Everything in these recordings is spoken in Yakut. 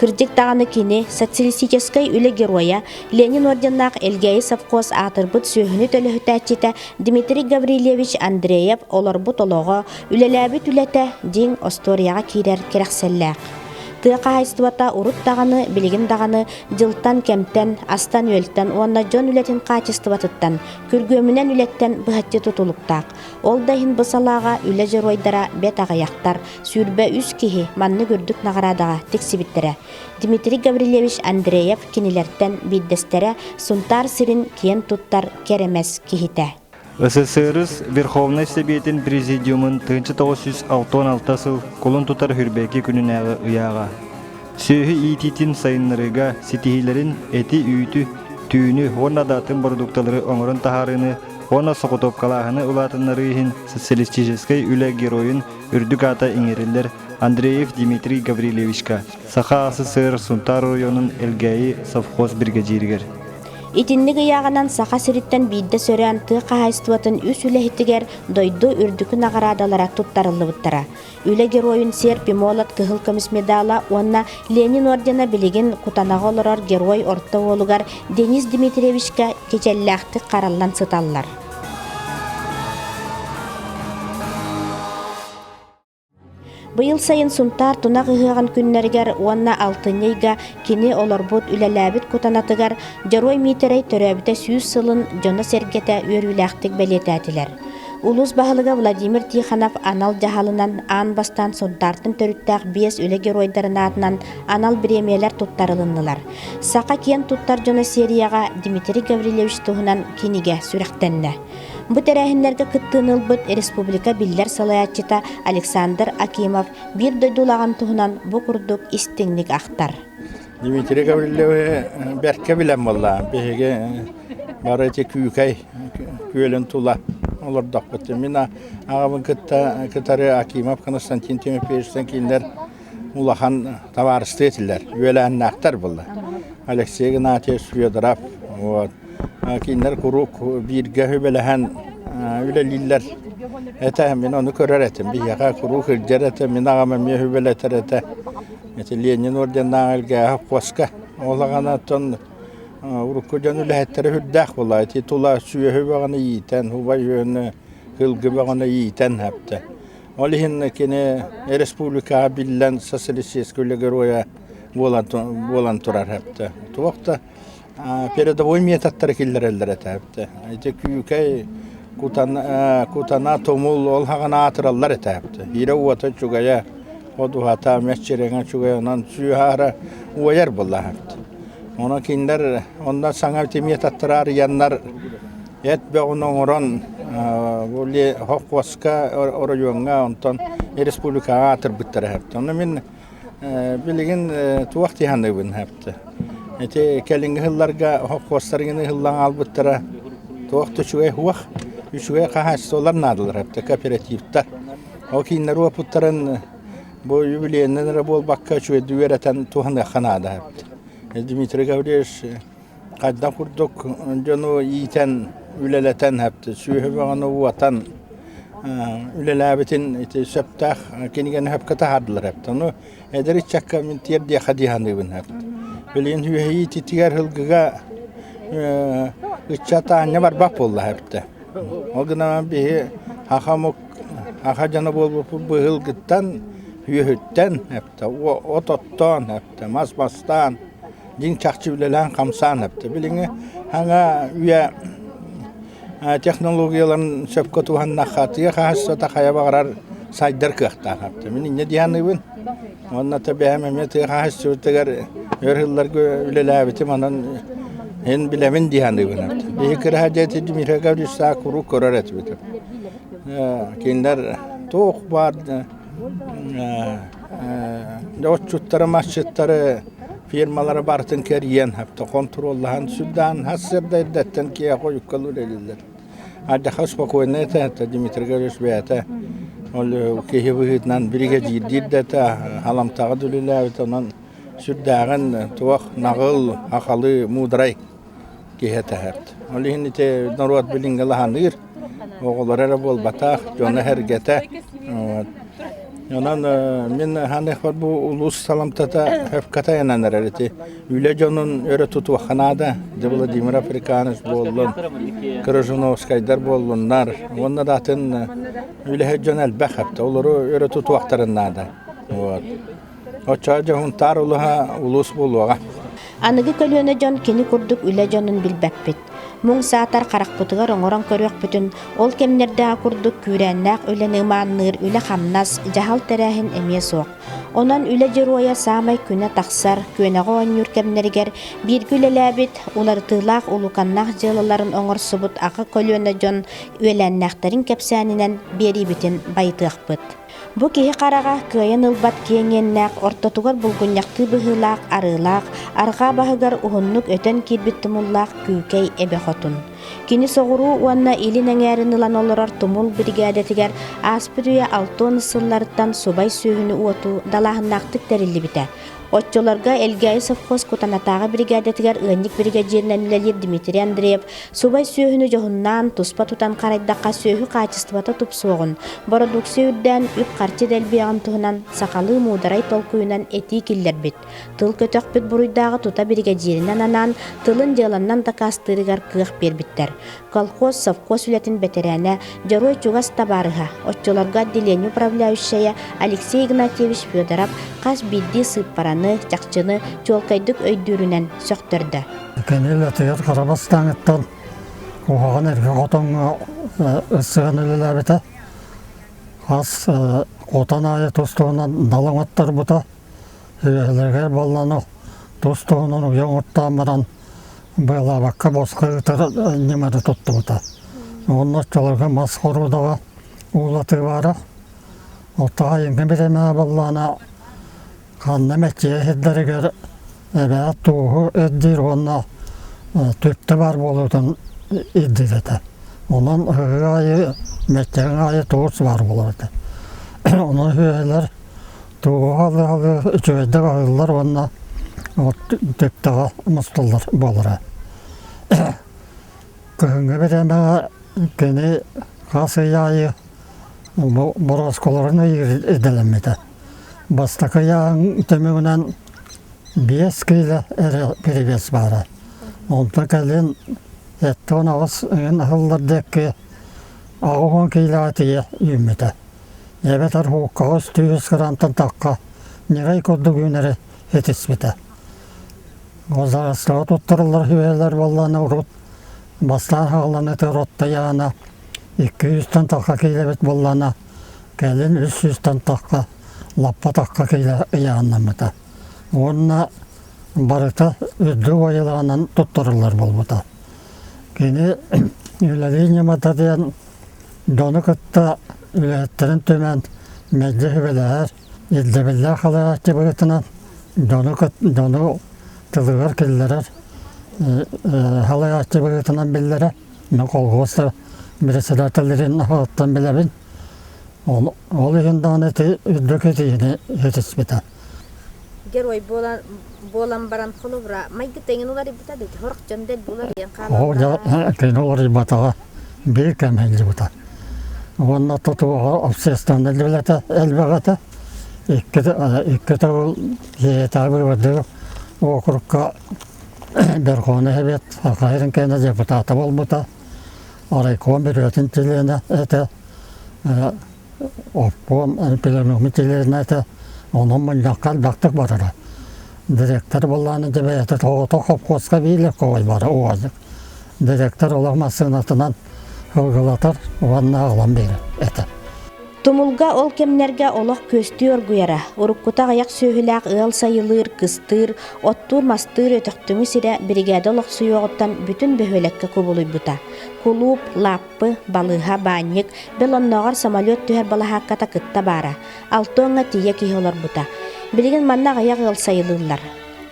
Кырдьык даҕаны кини социалистическай үлэ геройа, Ленин орденнаах Элгээйи совхоз аатырбыт сүөһүнү төлөһүтээччитэ Дмитрий Гаврильевич Андреев олорбут олоҕо, үлэлээбит үлэтэ дьиҥ остуоруйаҕа киирэр кэрэхсэллээх. Тыа хаһайыстыбата урут даҕаны, билигин даҕаны дьылтан-кэмтэн, астан-үөлтэн уонна дьон үлэтин хаачыстыбатыттан, күргүөмүнэн үлэттэн быһаччы тутулуктаах. Ол да иһин бу салааҕа үлэ дьоруойдара бэрт аҕыйахтар, Сүүрбэ үс киһи маннык үрдүк наҕараадаҕа тиксибиттэрэ. Дмитрий Гаврильевич Андреев кинилэртэн биирдэстэрэ Сунтаар сирин киэн туттар кэрэмэс киһитэ. СССР Верховнай Сэбиэтин Президиумун тыынча тоҕус сүүс алтан алта сыл кулун тутар Үрбээки күнүнээҕи ыйааҕа. Сүөһү иитиитин сайыннарыыга ситиһиилэрин эти-үүтү, түүнү уонна да атын бородуукталары оҥорон таһаарыыны уонна соҕотуопкалааһыны улаатыннарыы иһин социалистическай үлэ геройун үрдүк аата иҥэриллэр Андреев Дмитрий Гаврильевичка, Саха СССР Сунтаар оройуонун Элгээйи совхоз биригэдьииригэр. Итинник ыйааҕынан Саха сириттэн биирдэ сөрөөн тыа хаһаайыстыбатын үс үлэһитигэр дойду үрдүкү наҕараадалара туттарыллыбыттара. Үлэ геройун серп и молот кыһыл көмүс медала уонна Ленин ордена билигин Кутанаҕа олорор герой орто уолугар Денис Дмитриевичкэ кичэллээхтик хараллан сыталлар. Быйыл сайын Сунтаар Тунах ыһыаҕын күннэригэр уонна алтынньы ыйга кини олорбут, үлэлээбит кутанатыгар Дьоруой Миитэрэй төрөөбүтэ сүүс сылын дьоно-сэргэтэ үөрүүлээхтик бэлиэтээтилэр. Улуус баһылыга Владимир Тихонов анал дьаһалынан аан бастаан Сунтаартан төрүттээх биэс үлэ геройдарын аатынан анал бириэмийэлэр туттарылыннылар. Саха киэн туттар дьоно серияҕа Дмитрий Гаврильевич туһунан кинигэ сүрэхтэннэ. Бу тэрээһиннэргэ кыттыыны ылбыт республика биллэр салайааччыта Александр Акимов биир дойду улаҕан туһунан бу курдук истиҥник ахтар. Дмитрий Гаврильевы бэркэ билэн буолла. Биһиги бары ити Күүкэй күөлүн тула олордохпут. Мин аҕабын кытта кытары Акимов Константин Тимофеевичтан кинилэр улахан табаарыстыы этилэр, үөлээннээхтэр былыр. Алексей Игнатьевич, Федоров, вот. кинилэр куруук бииргэ үбэлэһэн үлэлииллэр этэ. Мин ону көрөр этим. Биһиэхэ куруук илдьэр этэ. Мин аҕам эмиэ үбэлэтэр этэ. Ити Ленин орденнааҕы Элгээһэ Коска ол аҕанаттан урукку дьон үлэһиттэрэ үрдээх була. Ити тула сүөһү бөҕөнү иитэн, убай үөнү, кылгы бөҕөнү иитэн әптэ. Ол иһин кини республикаҕа биллэн социалистическай үлэ геройа буолан турар эбитэ. Туох да передовой методтары киллэрэллэр этэ эбитэ. Ити күүкэй кутана тумул ол хаҕын аатыраллар этэ эбитэ. Иирэ уота үчүгэйэ, от уһата мэччирэҥэ үчүгэй онон сүөһаара уойар була эбит. Ону кинилэр онно саҥа методтары арыйаннар эт бөҕүн оҥорон бу Хохуоска оройуоҥҥа онтон республикаҕа аатырбыттар эһэбитэ. Ону мин билигин туох дьаһаныыбын эһэбитэ. Ити кэлиҥҥи сылларга хохуостарын ыһыллан аалбыттара туох да үчүгэй уох, үчүгэй хаһаайыстыбалар наадалар эбитэ, кооперативтар. Ол кииннэр уопуттарын бу юбилейнан эрэ буолбакка үчүгэйдик үөрэтэн туһаныахха наада эбит. Дмитрий Гаврильевич хайдах курдук дьону иитэн, үлэлэтэн, сүөһү бөҕөнү уотан үлэлээбитин ити сөптөөх кинигэни сөпкө таһаардылар эбит. Ону эдэр ыччакка мин тиэр диэхэ дии саныыбын эбит. Билигин үөһэйии ититигэр һылгыга ыччат аанньа барбах буолла эбитэ. Ол гынан биһи аха омук аха дьоно буолбут быһылгыттан, үөһүттэн от оттоон эптэ, мас бастаан, дьиҥ чахчы үлэлээн-хамсаан эптэ. Билиҥҥи аҥа үйэ технологияларын сөпкө туһаннахха тыа хаһааччыта хайа баҕарар сайдар кыахтаах эптэ. Мин инньэ дьаныыбын. Уонна та бэйэм эмиэ тыа хаһааччыбытыгар өр сылларга үлэлээбитим, онон эн билэбин дии саныыбын эптэ. Биһи кыраһа дети Дмитрий Гаврилович саа куруук көрөр этибит. Кинилэр туох баар отчуттары масчыттары фирмалары барытын кэрийэн контроллаһан сүрдээн хас сырдайдаттан киһи хойуккалы үлэлиллер аддаха спокойно это Дмитрий Григорьевич бэйэтэ ол киһи быһыытынан биригэдьиирдиир да это халамтаҕа дүлүлээбит онон сүрдээҕин туох наҕыл ахалы муудрай киһи этэһэт. Ол иһин ити норуот билиҥҥилаһаныыр, оҕолоро эрэ буолбатах, дьоно-сэргэтэ. Онон мин ханыахпар бу улуус саламтата ХЭФ-катайынан эрэр ити үлэ дьонун өрө тутуохха наада. Дьэ Владимир Африканович буоллун, Крыжуновскайдар буоллуннар. Уонна да атын үлэһит дьон элбэх эптэ. Олору өрө тутуохтарын наада. Вот. Оччо дьоһунтаар улуһа улуус буолуоҕа. Аныгы көлүөнэ дьон кини курдук үлэ дьонун билбэппит. Муҥ саатар харахпытыгар оҥорон көрүөхпүтүн, ол кэмнэрдээҕи курдук күүрээннээх үлэни ымаанныыр үлэ-хамнас, дьаһал тэрээһин эмиэ суох. Онон үлэ дьоруойа саамай күнэ тахсар, күөнэҕэ оонньуур кэмнэригэр бииргэ үлэлээбит, уларытыылаах улуканнаах дьыалаларын оҥорсубут аҕа көлүөнэ дьон үөлээннээхтэрин кэпсээнинэн биэриибитин байытыахпыт. Бу киһи хараҕа кыайан ылбат киэҥ иэннээх, ортотугар булгунньахтыы быһыылаах арыылаах, арҕаа баһыгар уһуннук өтөн киирбит тумуллаах күүкэй эбэ хотун. Кини соҕуруу уонна илин эҥээрин ылан олорор тумул биригээдэтигэр ааспыт үйэ алтыан сылларыттан субай сүөһүнү уоту далааһыннаахтык тэриллибитэ. Оччолорго Элгээйи совхоз Кутанатааҕы биригээдэтигэр ыанньык биригэдьиэринэн үлэлиир Дмитрий Андреев субай сүөһүнү дьоһуннаан, туспа тутан харайдахха сүөһү хаачыстыбата тупсуоҕун, бородууксуйа үрдээн, үп-харчы дэлбиэҕин туһунан сахалыы муударай толкуйунан этии киллэрбит. Тыл көтөхпүт буруйдааҕы тута биригэдьиэринэн анаан, тылын дьыаланнан дакаастыырыгар кыах биэрбиттэр. Колхоз совхоз үлэтин бэтэрээнэ, дьоруой чугас табаарыһа, оччолорго отделение управляющайа Алексей Игнатьевич Федоров хас биирдии сыыппараны, чахчыны чуолкайдык өйдүүрүнэн сөхтөрдө. Кэннил атыйат хара бастааҥыттан куһаҕан эргэ хотоҥҥо ырсыган үлэлээбитэ. Хас хотон аайы тус-туһунан дал оҥоттарбыта. Үөһэлэригэр балланы тус-туһунан уйа оҥоттаан баран Быалаабакка босхо ытаран ньымата туттубута. Уонна оччолорго мас хоруодава уулатыыбаара. Оттон айыҥҥа бирэмэҕэ буоллаҕына ханна мэччийэ сирдэригэр эбээ туоһу эрдиир уонна түптэ баар буолуутун ирдиир этэ. Онон ыһыы аайы мэччиҥ аайы туос баар буолар этэ. Онон үһүөлэр Туоһалыһалыы үчүгэйдик аһыллар уонна от тэттэҕэ мустуллар буолара. Кыһыҥҥы бириэмэҕэ кини хас ый аайы бу боросколорун идэлэммитэ. Бастакы ыйааҕын түмүгүнэн биэс киилэ эрэ перевес баара. Онтон кэлин сэттэ уон аҕыс ыйын аһыллар диэки аҕыс уон киилэҕэ тиийэ үүммүтэ. эбэтэр коҕос тыгыс кырантан тахха ньарай курдук үүнэрэ итиспитэ ол саҕастаҕа туттарыллар үһүөлэр буоллаана урут бастаан хаалан ытыар оттайаана икки сүүстэн тахха киилэбит буоллаана кэлин үс сүүстэн тахха лаппа тахха киилэ ыйааннаммыта уонна барыта үрдүк уойылаҕынан туттарыллар буолбута кини үлэлии ньымата диэн Дьону кытта үлэһиттэрин түмэн мэлдьи сүбэлэһэр, ирдэбиллээх халааччы быһыытынан дьону дьону тылыгар киллэрэр халааччы быһыытынан биллэрэ. Мин колхуос председателлэрин аһыттан билэбин. Ол ол иһин даҕаны ити үрдүк этиини этиспитэ. Герой буолан буолан баран холобура майгы тэҥин уларыйбыта да ити сорох дьон дэлби уларыйан хаалбыта. Тэҥин уларыйбатаҕа биир кэм иһиллибитэ уонна тутууга общественнай үлэтэ элбэҕэтэ иккитэ иккитэ ол ийэтэ бырыбардык округка Верховный Совет Хахайрин кэннэ депутата буолбута райком бүрүөтүн чилиэнэ этэ Оппуом Альпина Микелевната онон мунньахха ардахтык батара. Директор боллааны дебэйэтэ тоҕото хопхуоска биилэккэ ойбара уолдык. Директор олох массыынатынан ылгылатар уонна аҕалан биэрэ этэ. Тумулга ол кэмнэргэ олох күөстүү оргуйара. Уруккута аҕыйах сүөһүлээх ыал сайылыыр, кыстыыр, оттуур-мастыыр өтөхтүҥү сирэ биригээдэ олохсуйуоҕуттан бүтүн бөһүөлэккэ кубулуйбута. Кулууп, лааппа Саппы, балыыһа, баанньык, бэл оннооҕор самолет түһэр балаһаакката кытта баара. Алты оҥҥо тиийэ киһи олорбута. Билигин манна аҕыйах ыал сайылыыллар.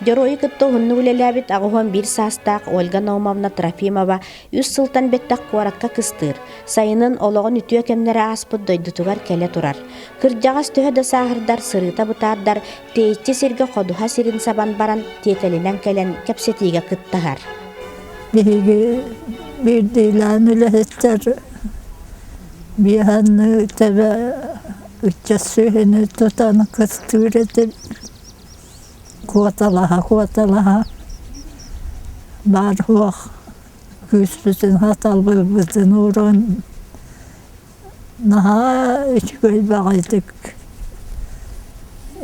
Дьоруойу кытта уһуннук үлэлээбит аҕыһыан биир саастаах Ольга Наумовна Трофимова үс сылтан бэттэх куоракка кыстыыр, сайынын олоҕун үтүө кэмнэрэ ааспыт дойдутугар кэлэ турар. Кырдьаҕас төһө да сааһырдар, сырыыта бытаардар, Тэйиччи сиргэ ходуһа сирин сабан баран тиэтэлинэн кэлэн кэпсэтиигэ кыттыһар. Биһиги биирдиилээн үлэһиттэр биэханныы тэбэ ыччат сүөһүнү тутан кыстыыр этил куоталаһа куоталаһа баар суох күүспүтүн хаталбыыбытын уурун Наһаа үчүгэй баҕайытык,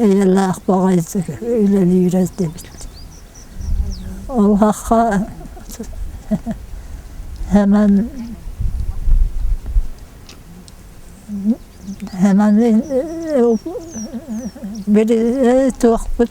эйэлээх баҕайытык үлэлиир этибит. Убахха Һэмэн Һэмэни билиэ туохпут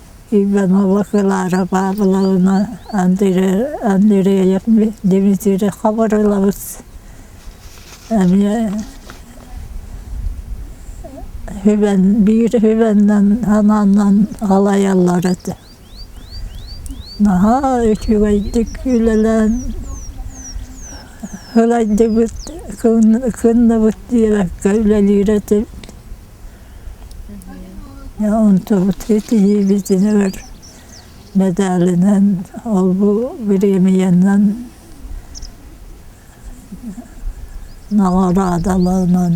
Иванова Клара Павловна Андреев Дмитриев хабырылабыт эмиэ Хүбэн биир Хүбэннэн анааннан халайаллар этэ наһаа үчүгэйдик үлэлээн ылайдыбыт кынныбыт диэбэккэ үлэлиир этибит Онтубут итиһиибит өр медалынан олбу бириэмийэнэн наҕараадаланан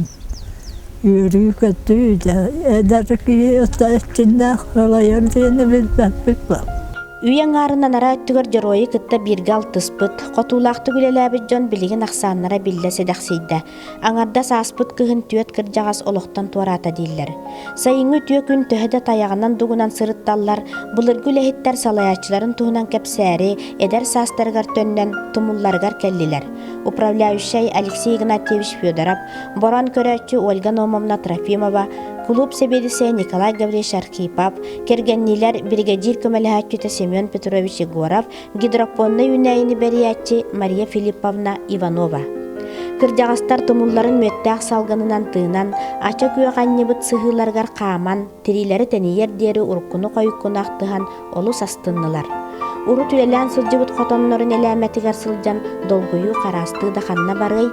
үөрүү-көтүү дьэ эдэр киһи эчиннээх салайар диэни билбэппит бу Үйэ аҥаарынан араа өттүгэр дьоруойу кытта бииргэ алтыспыт, хотуулаахтык үлэлээбит дьон билигин ахсааннара биллэ сэдэхсийдэ. Аҥардас ааспыт кыһын түөрт кырдьаҕас олохтон туораата дииллэр. Сайыҥҥы үтүө күн төһө да тайаҕынан-дугунан сырытталлар, былыргы үлэһиттэр салайааччыларын туһунан кэпсээри эдэр саастарыгар төннөн тумулларыгар кэллилэр. Управляющай Алексей Игнатьевич Федоров, борон көрөөччү Ольга Номовна Трофимова, кулууп сэбиэдиссэйэ Николай Гаврильевич Архипов, кэргэнниилэр, биригэдьиир көмөлөһөөччүтэ Семен Петрович Егоров, гидропоннай үүнээйини бэрийээччи Мария Филипповна Иванова. Кырдьаҕастар тумулларын мүөттээх салгынынан тыынан, ача күөх анньыбыт сыһыыларыгар хааман, тириилэри тэнийэр диэри уруккуну хойуккуну ахтыһан олус астыннылар. Урут үлэлээн сылдьыбыт хотоннорун элээмэтигэр сылдьан долгуйуу хараастыы да ханна барыай,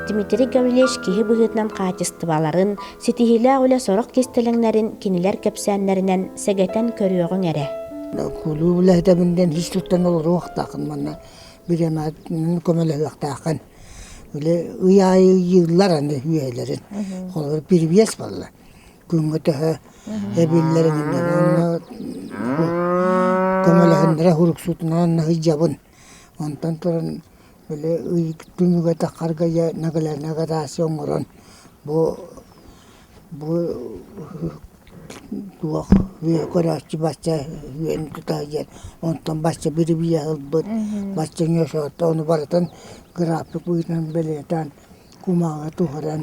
Дмитрий Гавлевич киһи быһыытынан хаачыстыбаларын, Ситиһиилээх үлэ сорох кистэлэҥнэрин кинилэр кэпсээннэринэн сэгэтэн көрүөҕүҥ эрэ. Кулууп үлэһитэбин диэн ис туттан олоруохтаахын манна бириэмэтин көмөлөһүөхтээххин. Били ый аайы ыйыыллар аны үөһэлэрин. Холобур перевес балла. Күҥҥэ төһө эбиллэрининэн онно көмөлөһүннэрэ уруксутунан наһыйдьабын. Онтон туран Били ыйык түнүгэ тахаргайа нагалена гараси оҥорон бу бу туох үөһэ көрөөччү бачча үөн тута диэн онтон бачча бирибийэ ылбыт бачча ньосоотто ону барытын график быыһынан бэлиэтээн кумааҕы туһаран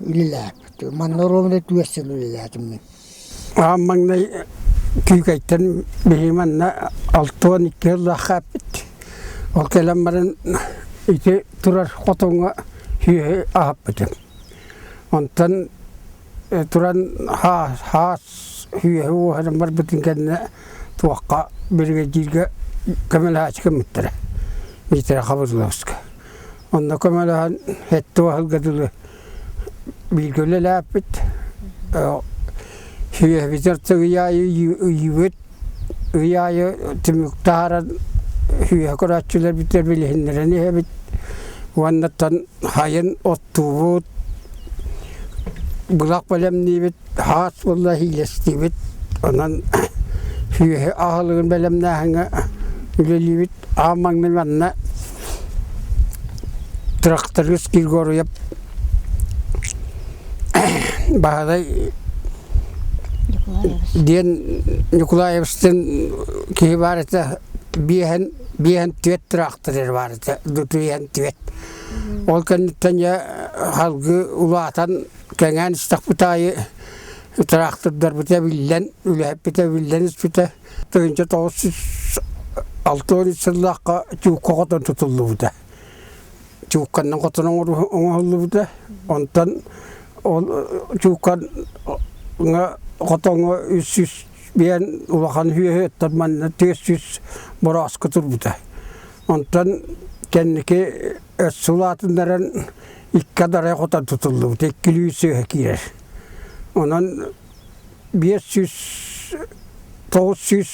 үлэлээбит. Манна ровно түөрт сыл үлэлээтим мин. Аҕам маҥнай Күүкэйтэн биһи манна алта уон икки ыллаахха эппит. Ол кэлэн баран ити турар хотоҥҥо сүөһү аһаппытым. Онтон туран хаас үөһэ уоһунан барбытын кэннэ туохха биригэдьииргэ көмөлөһөөччү кэммиттэрэ Миитэрэ Хабырыловска. Онно көмөлөһөн эттэ уоһалга дылы бииргэ үлэлээппит үөһэбитигэр тыгый аайы ыйыыбыт ый аайы түмүк таһааран үһүөһэ көрөөччүлэр бүтэр билиһиннэрэн иһэбит уоннаттан хайын оттуубут былах бэлэмниибит хаас булла иилэстиибит онон үһүөһү аһылыгын бэлэмнээһиҥҥэ үлэлиибит аан маҥнай манна Тракторист Григорьев Баһадай диэн Ньукулаевичтыын киһи баар этэ биэһэн биэһэн түөрт тыраахтырыыр баар этэ дутуйан түөрт ол кэнниттэн дьэ салгыы улаатан кэҥээн истэхпит аайы тыраахтырдарбыта эбиллэн үлэһиппитэ эбиллэн испитэ тыһыынча тоҕус сүүс алта уон сыллаахха чуукка хотон тутуллубута чуукканнан хотон оҥоһуллубута онтон ол чууккаҥа хотоҥҥо үс сүүс биэн улахан үһүөһү оттон манна түөрт сүүс борооска турбута онтон кэнники өс сулаатыннаран икки адарай хотон тутуллубута икки үлүү сыыһа киирэр онон биэс сүүс тоҕус сүүс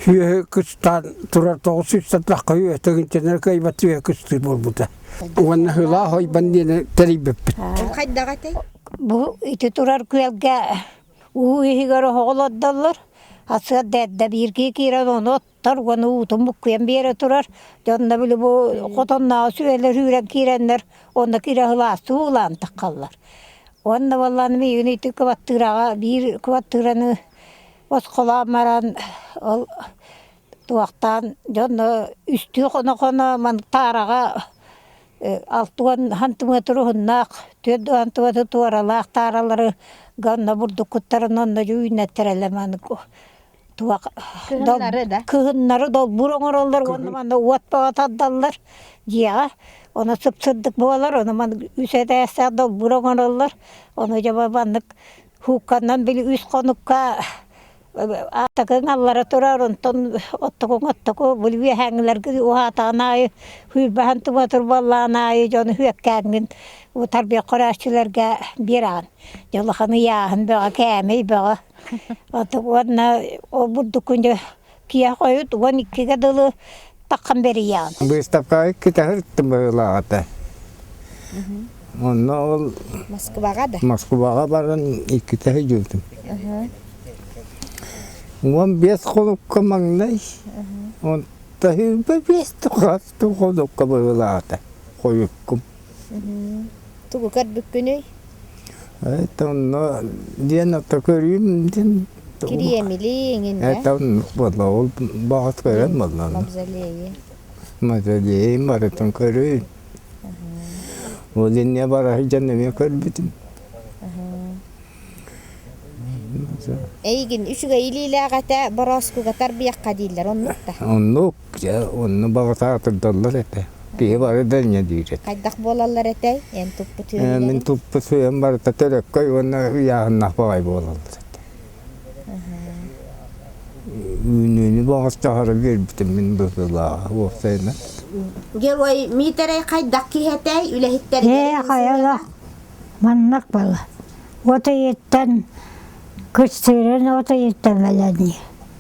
үөһү кыстаан турар тоҕус сүүс сатахха үөтэгин тэнэр кыайбат үөһэ кыстыы буолбута уонна һылаах ойбон диэни тэрийбиппит хайдаҕа этэй бу ити турар күөлгэ уу иһигэр оһоҕол ордоллор а сыарда эрдэ бииргэ киирэн ону туттар уонна уутун буккуйан биэрэ турар. Дьонно били бу хотоннооҕу сүөлэр үүрэн киирэннэр уонна кири аһылаастыы уулаан таххаллар. Уонна буоллаан миигин ити кыбартыыраҕа биир кыбартыыраны босхолоон баран ол туохтаан дьонно үстүү хоно-хоно маннык таараҕа алты уон сантиметр уһуннаах түөрт сантиметр туоралаах тааралары гонно бурдуккуттарын онно дьү үүннэттэрэлэр маннык туох кыһыннары долбуур оҥороллор уонна манна уот бөҕө тардаллар дьиэҕэ ону сыпсырдык буолар ону манна үс этээстээх долбуур оҥороллор ону дьомо маннык хуукканан били үс хонукка аатакыҥ аллара турар онтон оттугуҥ оттугу били үөһээҥҥилэргин уһаатаҕын аайы сүүрбэһэн тума турбаллаан аайы дьону үөккээҥҥин утарбиах хорааччыларга биэрэҕин дьэ улахан ыйааһын бөҕө кээмэй бөҕө Ата уонна ол бурдукун дьэ киһи хойут уон иккигэ дылы таххан бэрийэҕин. Быыстапкаҕа китэһэртим быһыылааҕыта. Онно ол Москваҕа да? Москубаҕа баран иккитэ hüdültüm. Уон биэс холукка маҥнай. Онто бэбиэстик хастыы холукка быһыылаата. Хойуккум. Тугу көрбүккүнүй? Эта онно диэн ото көрүүм диэн Кириэмилии эҥин ээ? Эта оннук буолла ол баҕат көрөн буолла аны. Мавзолейы. Мавзолейы барытын көрүүм. Ол инньэ бара сылдьан эмиэ көрбүтүм. Эйигин үчүгэй илиилээх этэ борооскуга тарбыйахха дииллэр оннук да? Оннук. Дьэ, онно баҕата атырдаллар этэ. Киһи бары да инньэ диир этэ. Хайдах буолаллар этэй, эн туппут Мин үөһүнэн? туппут үйэм барыта төлөккөй уонна ыйааһыннаах баҕайы буолаллар этэ. Үүнүүнү баҕарчаһары биэрбитим мин быһыылааҕа уопсайынан. Герой Миитэрэй хайдах киһи этэй, үлэһиттэригэр? Ээ, хайала маннык бала. От ыйыттан кыстыырын от ыйыттан өлөннү.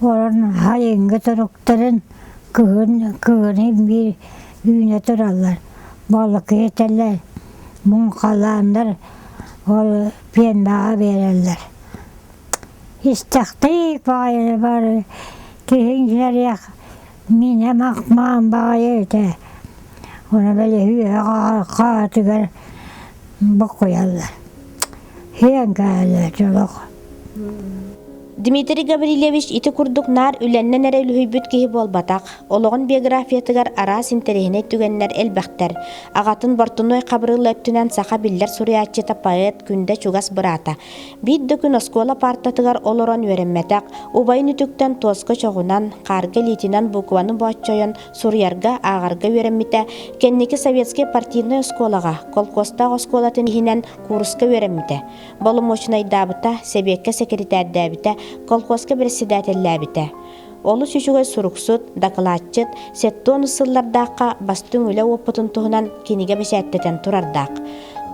олорон хайыҥҥа туруктарын кыһын кыһыны биир үүнэ тураллар балыкитэлэр муҥхалааннар ол пиэрмэҕэ биэрэллэр истэхтик баҕайы бары киһиҥ иһэриэх Миинэм Ахмаан баҕайы этэ ону бэлиһииһэ хаатыгар бокуйаллар иһэн кэллэ олох Дмитрий Гаврильевич ити курдук наар үлэннэн эрэ үлүһүйбүт киһи буолбатах. Олоҕун биографиятыгар араас интэриэһинэй түгэннэр элбэхтэр. Аҕатын Бортунуой Хабырыыл өттүнэн саха биллэр суруйааччыта, поэт, күндэ чугас быраата. Биир да күн оскуола паартатыгар олорон үөрэммэтэх, убайын үтүктэн туоска чоҕунан, хаарга илиитинэн букваны бооччойон суруйарга, ааҕарга үөрэммитэ, кэнники советскай партийнай оскуолаҕа, колхозтаах оскуолатын иһинэн кууруска үөрэммитэ, боломуочунайдаабыта, сэбиэккэ сэкиритээрдээбитэ, колхозка бэрэссэдээтэллээбитэ. Олус үчүгэй суруксут, дакылаатчыт, сэттэ уон сыллардаахха бастыҥ үлэ уопутун туһунан кинигэ бэчээттэтэн турардаах.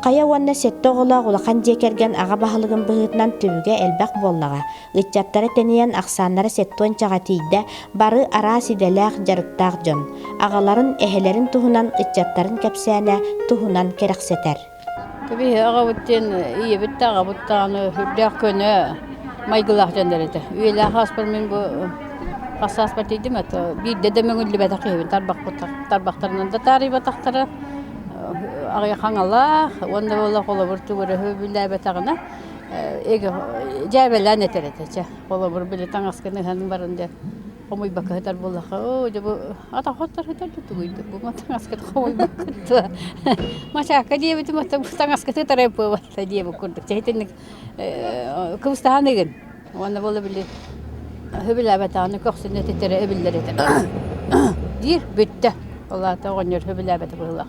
Хайа уонна сэттэ оҕолоох улахан дьиэ кэргэн аҕа баһылыгын быһыытынан түбүгэ элбэх буоллаҕа. Ыччаттара тэнийэн, ахсааннара сэттэ уончаҕа тиийдэ, бары араас идэлээх, дьарыктаах дьон. Аҕаларын, эһэлэрин туһунан, ыччаттарын кэпсээнэ туһунан кэрэхсэтэр. Кэбиһэ аҕабыт диэн ийэбит да аҕабыт даҕаны үрдээх көнө майгылаах дьоннор этэ. Үйэлээх ааспар мин бу хас ааспар тиийдим это биирдэ да мөҥүллүбэтэх киһибин тарбахпыттан тарбахтарынан да таарыйбатахтара аҕыйах хаҥалаах уонна ыла холобур төгүрөһү бүлээбэтэҕинэ эгэ дьээбэлээн этэр этэ чэ холобур били таҥаскын ыһан баран диэн Хомуйбакка сытар буоллахха, оо, дьэ бу атаҕыттан сытар да тугуйдук, бу ма таҥаскыты хомуйбаккыт дуо? Мачаакка диэбитим, оттон бу таҥаскыты утары ымпыабатта диэбит курдук. Чэ итинник э, кыбыстаһаныгын уонна буола били сөбүлээбэтэҕинэ көхсүнэ титэрэ эбиллэр этэ диир бүттэ. Ол аата оҕонньор сөбүлээбэтэ быһыылаах.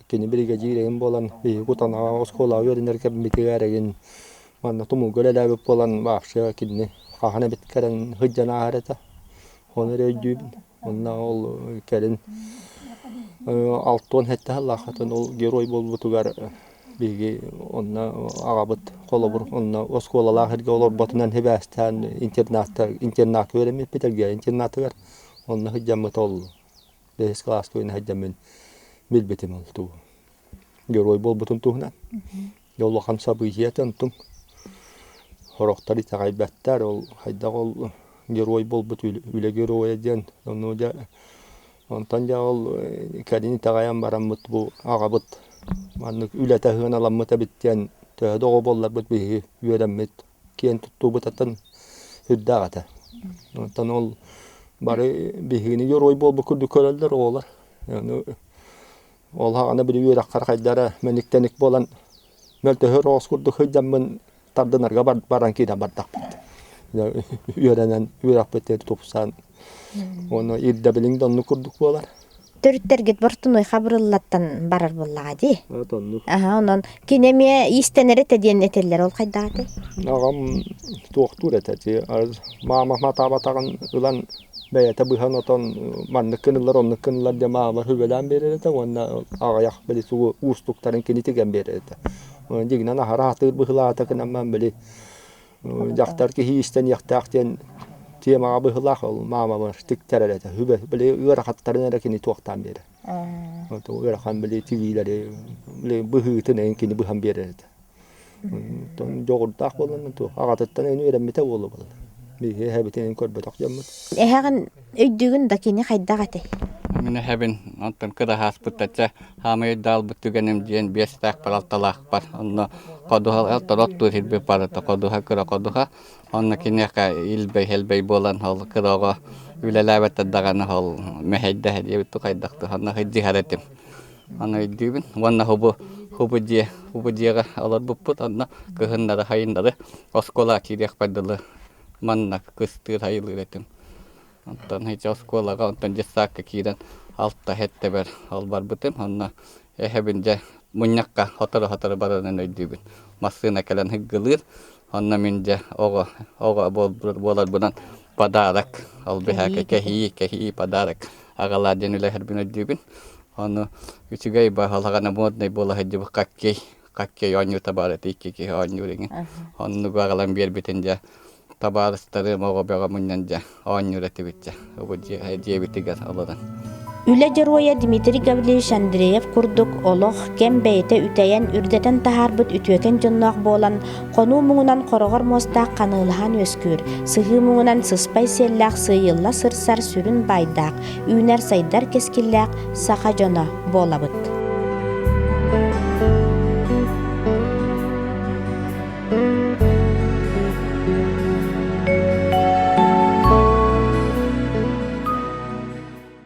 Кини биригэдьиирим буолан, биһиги Кутанаҕа оскуолаҕа үөрэнэр кэммитигэр эргин манна тумулга үлэлээбит буолан, вообще кинини хаһан эбит кэлэн сылдьан ааһар этэ. Ону эрэ өйдүүбүн. Уонна ол кэлин алта уон сэттэ сыллаах отон ол герой буолбутугар биһиги онно аҕабыт холобур онно оскуолалаах эргэ олорботунан сибээстээн интернатка интернатка үөрэммиппит Элгээйи интернатыгар онно сылдьаммыт ол Дэһис кылааска үөнэ сылдьаммын билбитим ол туу герой буолбутум туһунан. Улахан событиета онтуң Хороктар итэҕэйбэттэр ол хайдах ол герой буолбут үлэ геройа диэн ону дьэ онтон дьэ ол кэлин итэҕэйэн бараммыт бу аҕабыт маннык үлэтэ сыаналаммыт эбит диэн төһө да оҕо буолларбыт биһиги үөрэммит киэн туттуубутаттан үрдээх этэ. Оттон ол бары биһигини дьоруой буолбут курдук көрөллөр оҕолор. Ол аһаҕана били үөрэххэр хайда эрэ мэник-тэник буолан мөлтөһөр оҕус курдук сылдьаммын тардынарга баран киирэн бардахпыт. Үөрэнэн үөрэхпит диэри тупсан Уонна ирдэбилиҥ да оннук курдук буолар. Төрүттэргит Бортунуйха бырыллаттан барар буоллаҕа дии. От оннук. Аха, онон кини эмиэ иистэнэр этэ диэн этэллэр, ол хайдаҕа этэй? Аҕам туохтуур этэ ити маама матаабатаҕын ылан бэйэтэ быһан отон маннык гыныллар оннук гыныллар диэн маамалар хүбэлээн биэрэр этэ уонна аҕыйах били сугу уустуктарын кини тигэн биэрэр этэ. Дигинэн аһара атыыр быһылаата гынан били дьахтар киһи истэниэхтээх диэн тиэмэҕэ быһыылаах ол маамабар тиктэрэр этэ били ыарахаттарын эрэ кини туохтаан биэрэр ыарахан били тигиилэри быһыытын эйин кини быһан биэрэр этэ дьоҕурдаах буолан туох аҕатыттан үөрэммитэ буолуо буолар эһэбитин көрбөтөх дьоммут эһэҕин Өйдүүгүн да кини хайдах этэй? Мин эһэбин онтон кыраһааспыт чэ хаамай өйдөҕүлбүт түгэним диэн биэстээх балалталаахпар онно ходуһа тороттуур сирбит барыта ходуһа кыра ходуһа онно киниэхэ илбэй хэлбэй буолан ол кыраҕа үлэлээбэттэр даҕаны ол мэһэйдэһэ диэбит хайдахтыы онно дьиһэр этим аны өйдүүбүн уонна хубу хубу дьиэ хубу дьиэҕэ олорбуппут онно кыһыннары хайыннары оскуола киириэхпэр дылы манна кыстыыр айылыыр этим. Оттон ити оскуолаҕа онтон детсадка киирэн алта-сэттэбэр албарбытым. Онно эһэбин дьэ мунньахха сотору-сотору барарын өйдүүбүн. Массыына кэлэн һыггылыыр. Онно мин дьэ оҕо оҕо буоларбынан подарок ол бэһээкэ кэһии кэһии подарок аҕалаар диэн үлэһэрбин өйдүүбүн. Ону үчүгэй баһылаҕана моднай буола сылдьыбыт хоккей хаччай оонньуу табаарыта икки киһи оонньуур иҥи оннугу аҕалан биэрбитин дьэ табаарыстарым оҕо бөҕөмүнэн дьэ оонньуур этибит дьэ бу дьиэ дьиэбитигэр олорон Үлэ дьоруойа Дмитрий Гавлевич Андреев курдук олох, кэм бэйэтэ үтэйэн, үрдэтэн таһаарбыт үтүөкэн дьонноох буолан, хонуу муҥунан хороҕор муостаах ханыылаһан үөскүүр, сыһыы муҥунан сыспай сиэллээх сыыйылла сырсар сүрүн баайдаах, үүнэр-сайдар кэскиллээх саха дьоно буолабыт.